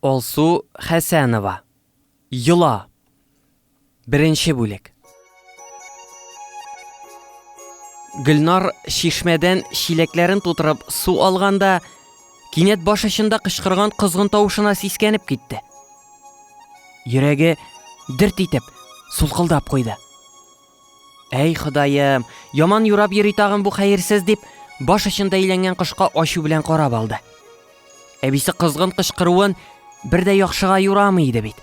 Алсу Хәсәнова. Йола. Беренче бүлек. Гөлнар чишмәдән чиләкләрен тутырып су алганда, кинәт баш очында кычкырган козгын тавышына сискәнеп китте. Йөрәге дерт итеп, сулкылдап куйды. Әй, Ходаем, яман юрап йөри тагын бу хәерсез дип, баш очында әйләнгән кошка ачу белән карап алды. Әбисе кызгын кычкыруын бер дә яхшыга юрамый иде бит.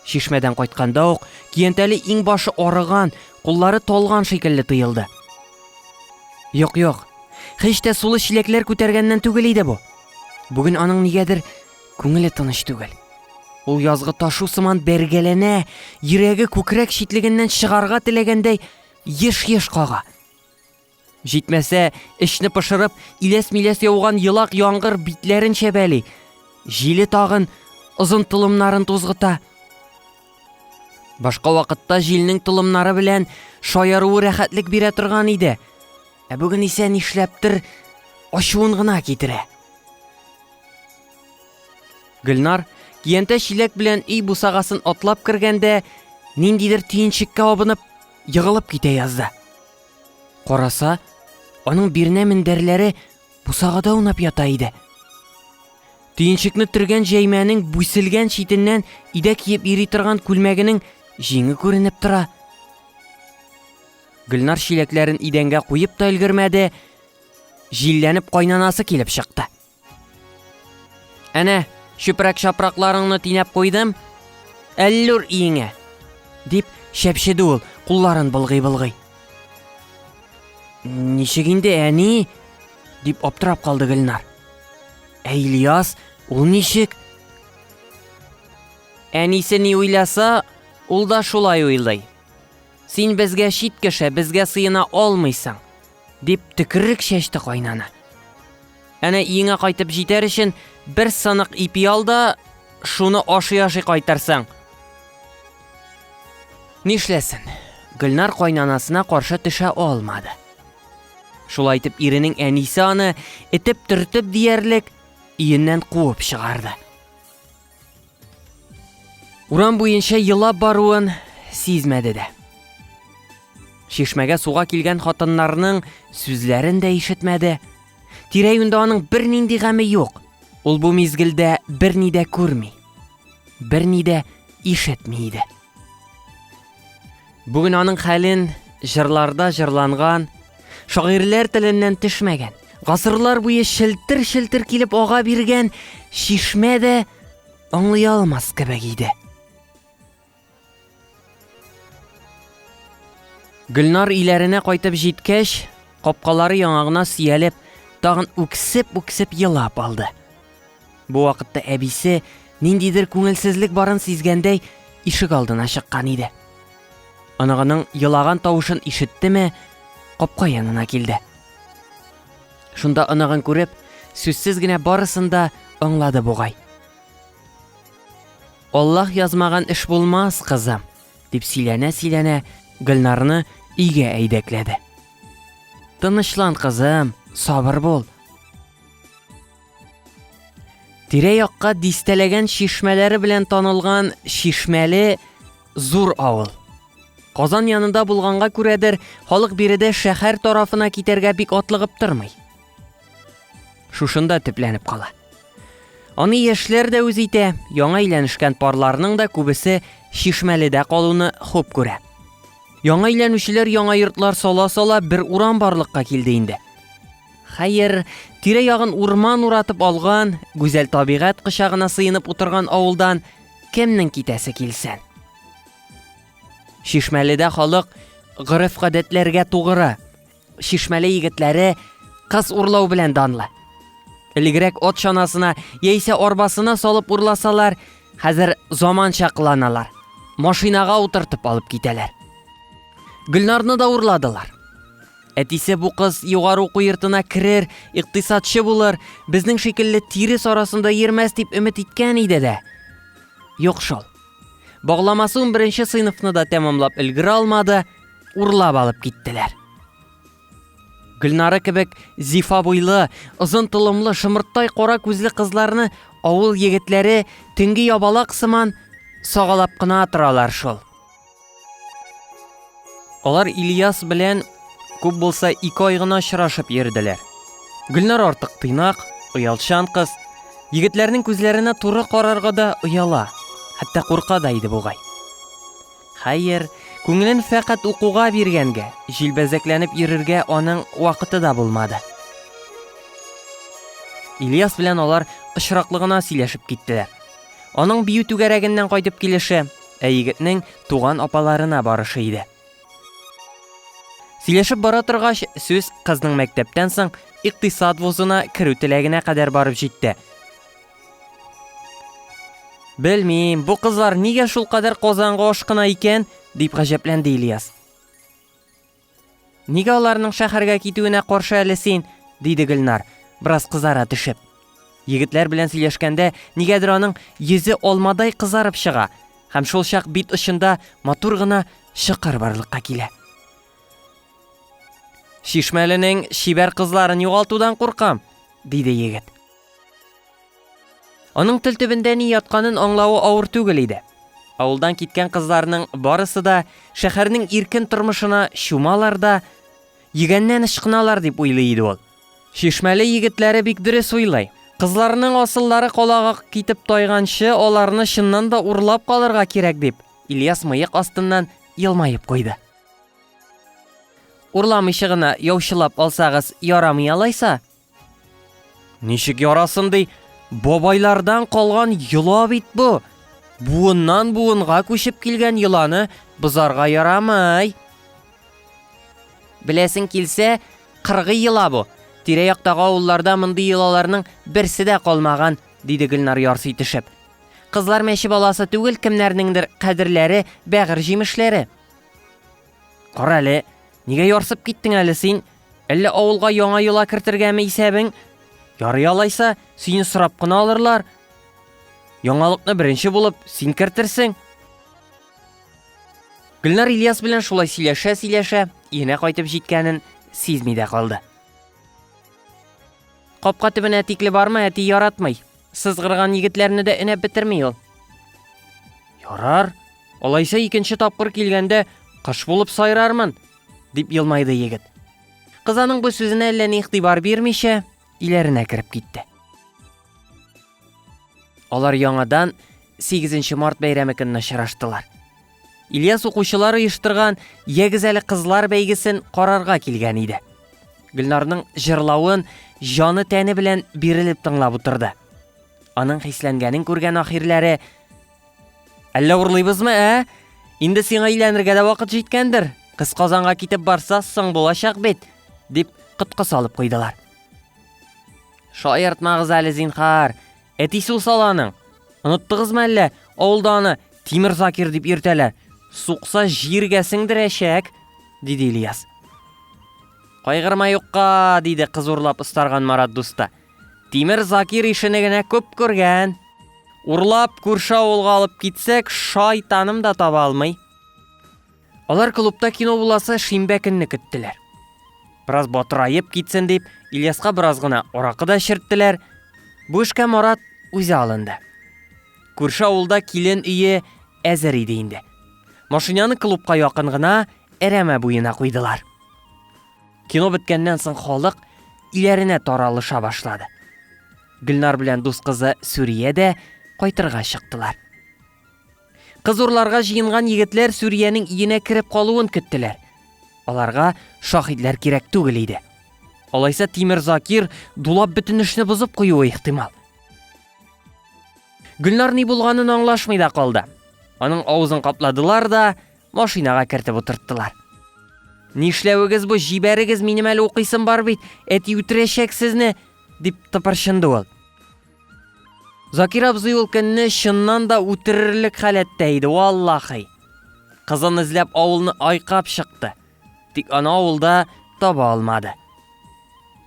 Шишмәдән кайтканда ук Киянтәле иң башы арыган, куллары талган шикелле тоелды. Юк, юк. Хич тә сулы чиләкләр күтәргәннән түгел иде бу. Бүген аның нигәдер Күңеле тыныч түгел. Ул язгы ташу сыман бәргәләнә, йөрәге күкрәк читлегеннән чыгарга теләгәндәй еш-еш кага. Җитмәсә, эчне пошырып, иләс-миләс яуган елак яңгыр битләрен чәбәли. Җиле тагын озын тулымнарын тузгыта. Башка вакытта җилнең тулымнары белән шаяруы рәхәтлек бирә торган иде. Ә бүген исә нишләптер ачуын гына китерә. Гөлнар, киянтә чиләк белән өй бусагасын атлап кергәндә, ниндидер төенчеккә абынып, егылып китә язды. Караса, аның бирнә мендәрләре бусагада унап ята иде. Төенчекне төргән җәймәнең бүселгән читеннән идә киеп йөри торган күлмәгенең җиңе күренеп тора. Гөлнар чиләкләрен идәнгә куеп та өлгермәде, җилләнеп кайнанасы килеп чыкты. Әнә, чүпрәк-чапракларыңны тинәп куйдым, әллүр иеңә! дип шәпшеде ул, кулларын былгый-былгый. Ничек инде, әни? дип аптырап калды Гөлнар. Ә Ильяс, ул ничек? Әнисе ни уйласа, ул да шулай уйлый. Син безгә чит кеше, безгә сыена алмыйсың. Дип төкерек чәчте кайнана. Әнә иеңә кайтып җитәр өчен бер сынык ипи ал да, шуны ашый-ашый кайтарсаң. Нишләсен? Гөлнар кайнанасына каршы төшә алмады. Шулай итеп иренең әнисе аны этеп-төртеп диярлек иеннән куып чыгарды. Урам буенча елап баруын сизмәде дә. Чишмәгә суга килгән хатыннарның сүзләрен дә ишетмәде. Тирә-юньдә аның бернинди гаме юк. Ул бу мизгелдә берни дә күрми, берни дә ишетми иде. Бүген аның хәлен җырларда җырланган, шагыйрьләр теленнән төшмәгән, гасырлар буе челтер-челтер килеп ага биргән чишмә дә аңлый алмас кебек иде. Гөлнар иләренә кайтып җиткәч, капкалары яңагына сөялеп, тагын үксеп-үксеп елап алды. Бу вакытта әбисе, ниндидер күңелсезлек барын сизгәндәй, ишек алдына чыккан иде. Оныгының елаган тавышын ишеттеме, капка янына килде. Шунда оныгын күреп, сүзсез генә барысын да аңлады бугай. Аллаһ язмаган эш булмас, кызым, дип сөйләнә-сөйләнә Гөлнарны өйгә әйдәкләде. Тынычлан, кызым, сабыр бул. Тирә-якка дистәләгән чишмәләре белән танылган Чишмәле зур авыл. Казан янында булганга күрәдер, халык биредә шәһәр тарафына китәргә бик атлыгып тормый. Шушында төпләнеп кала. Аны яшьләр дә үз итә, яңа өйләнешкән парларның да күбесе Чишмәледә калуны хуп күрә. Яңа өйләнүчеләр яңа йортлар сала-сала бер урам барлыкка килде инде. Хәер, тирә-ягын урман уратып алган, гүзәл табигать кочагына сыенып утырган авылдан кемнең китәсе килсен? Шишмәледә халык гореф-гадәтләргә тугры. Шишмәле егетләре кыз урлау белән данлы. Элегрәк от чанасына яисә арбасына салып урласалар, хәзер заманча кыланалар. Машинага утыртып алып китәләр. Гөлнарны да урладылар. Әтисе бу кыз югары уку йортына керер, икътисадчы булыр, безнең шикелле тирес арасында йөрмәс дип өмет иткән иде дә. Юк шул. Багламасы унберенче сыйныфны да тәмамлап өлгерә алмады, урлап алып киттеләр. Гөлнара кебек зифа буйлы, озын толымлы, шымырттай кара күзле кызларны авыл егетләре төнге ябалак сыман сагалап кына торалар шул. Алар Ильяс белән күп булса ике ай гына очрашып йөрделәр. Гөлнар артык тыйнак, оялчан кыз. Егетләрнең күзләренә туры карарга да ояла, хәтта курка да иде бугай. Хәер, күңелен фәкать укуга биргәнгә, җилбәзәкләнеп йөрергә аның вакыты да булмады. Ильяс белән алар очраклы гына сөйләшеп киттеләр. Аның бию түгәрәгеннән кайтып килеше, Ә егетнең туган апаларына барышы иде. Сөйләшеп бара торгач, сүз кызның мәктәптән соң икътисад вузына керү теләгенә кадәр барып җитте. Белмим, бу кызлар нигә шулкадәр Казанга ашкына икән, дип гаҗәпләнде Ильяс. Нигә аларның шәһәргә китүенә каршы әле син? диде Гөлнар, бераз кызара төшеп. Егетләр белән сөйләшкәндә нигәдер аның йөзе алмадай кызарып чыга һәм шул чак бит очында матур гына чокыр барлыкка килә. Шишмәленең чибәр кызларын югалтудан куркам, диде егет. Аның тел төбендә ни ятканын аңлавы авыр түгел иде. Авылдан киткән кызларның барысы да шәһәрнең иркен тормышына чумалар да, йөгәннән ычкыналар дип уйлый иде ул. Чишмәле егетләре бик дөрес уйлый. Кызларның асыллары колагы китеп тайганчы, аларны чыннан да урлап калырга кирәк, дип, Ильяс мыек астыннан елмаеп куйды. Урламыйча гына яучылап алсагыз ярамый алайса, Ничек ярасын ди, бабайлардан калган йола бит бу. Буыннан буынга күчеп килгән йоланы бозарга ярамай. Беләсең килсә, кыргый йола бу. Тирә-яктагы авылларда мондый йолаларның берсе дә калмаган, диде Гөлнар ярсый төшеп. Кызлар мәче баласы түгел, кемнәрнеңдер кадерләре, бәгырь җимешләре. Кара әле, нигә ярсып киттең әле син? Әллә авылга яңа йола кертергәме исәбең? Ярый алайса, сине сорап кына алырлар. Яңалыкны беренче булып син кертерсең. Гөлнар Ильяс белән шулай сөйләшә-сөйләшә, иенә кайтып җиткәнен сизми дә калды. Капка төбенә тикле барма, әти яратмый. Сызгырган егетләрне дә энәп бетерми ул. Ярар. Алайса икенче тапкыр килгәндә кыш булып сайрармын, Дип елмайды егет. Кыз аның бу сүзенә әллә ни игътибар бирмичә, иләренә кереп китте. Алар яңадан 8 март бәйрәме көнне очраштылар. Ильяс укучылар оештырган Ягез әле кызлар бәйгесен карарга килгән иде. Гөлнарның җырлавын җаны тәне белән бирелеп тыңлап утырды. Аның хисләнгәнен күргән ахирләре Әллә урлыйбызмы, ә? Инде сиңа өйләнергә дә вакыт җиткәндер. Кыз Казанга китеп барса, соң булачак бит, дип коткы салып куйдылар. Шаяртмагыз әле, зинхар. Әтисе ул саланың. Оныттыгызмы әллә? Авылда аны Тимер Закир дип йөртәләр. Сукса җиргә сеңдерәчәк, диде Ильяс. Кайгырма юкка, диде кыз урлап ыстарган Марат дуста. Тимер Закир ишене генә күп күргән. Урлап күрше авылга алып китсәк, шайтаным да таба алмый. Алар клубта кино буласы шимбә көнне көттеләр. Бераз батырайып китсен дип, Ильяска бераз гына аракы да эчерттеләр. Бу эшкә Марат үзе алынды. Күрше авылда килен өе әзер иде инде. Машинаны клубка якын гына Әрәмә буена куйдылар. Кино беткәннән соң халык иләренә таралыша башлады. Гөлнар белән дус кызы Сүрия дә кайтырга чыктылар. Кыз урларга җыенган егетләр Сүриянең иенә кереп калуын көттеләр. Аларга шахидләр кирәк түгел иде. Алайса Тимер Закир дулап бөтен эшне бозып куюы ихтимал. Гөлнар ни булганын аңлашмый да калды. Аның авызын капладылар да, Машинага кертеп утырттылар. Нишләвегез бу, җибәрегез минем әле укыйсым бар бит, әти үтерәчәк сезне, дип тыпырчынды ул. Закир абзый ул көнне чыннан да үтерерлек халәттә иде, валлахи. Кызын эзләп авылны айкап чыкты. Тик аны авылда таба алмады.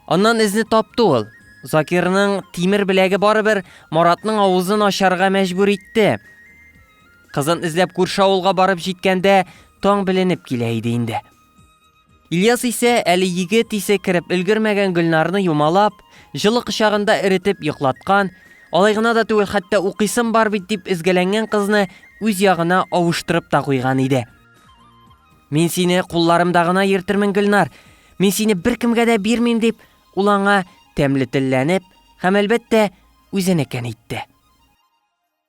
Аннан эзне тапты ул. Закирның тимер беләге барыбер Маратның авызын ачарга мәҗбүр итте. Кызын эзләп күрше авылга барып җиткәндә, таң беленеп килә иде инде. Ильяс исә әле егет исе кереп өлгермәгән Гөлнарны юмалап, җылы кочагында эретеп йоклаткан, алай гына да түгел, хәтта укыйсым бар бит дип эзгәләнгән кызны үз ягына авыштырып та куйган иде. Мин сине кулларымда гына йөртермен, Гөлнар. Мин сине беркемгә дә бирмим дип, ул аңа тәмле телләнеп һәм әлбәттә үзенекен әйтте.